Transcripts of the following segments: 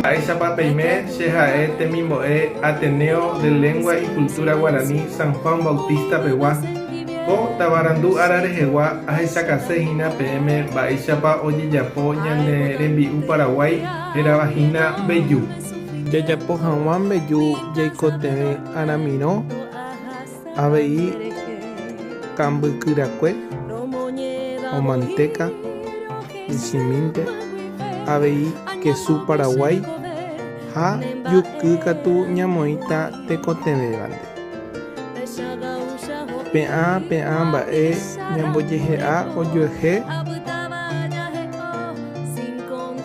Mba'éichapa peime che ha'e temimbo'e Ateneo de Lengua y Cultura Guarani San Juan Bautista pegua, ko tavarandu ára rehegua ahechakase hína peẽme mba'éichapa ojejapo ñane rembi'u Paraguái, Hérava hína mbeju. Jajapo hag̃ua mbeju jaikotevẽ aramirõ avei kambykyrakue o mantéka michĩmínte, avei kesu paraguái ha juky katu ñamoĩta tekotevẽvante. Pe'ã pe'ã mba'e ñambojehe'a ojuehe.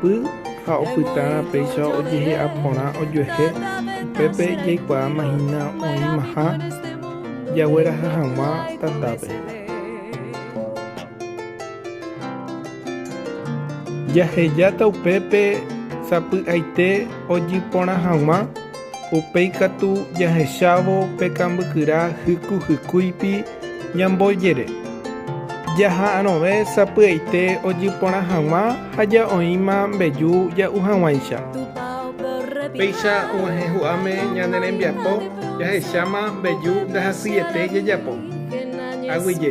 Py ha opytárã péicha ojehe'a porã ojuehe, upépe jaikuaáma hína oĩmaha jagueraha hag̃ua tatápe. Jahejáta upépe sapy'aite ojy porã hag̃ua, upéi katu jahechávo pe kambykyra hyku hykúipi, Ñamboyere, jaha'arõve sapy'aite ojy porã hag̃ua ha ja'oĩma mbeju ja'u hag̃uáicha. Péicha og̃uahẽ hu'áme ñane rembiapo jahecháma mbeju ndahasyiete jajapo. Aguyje.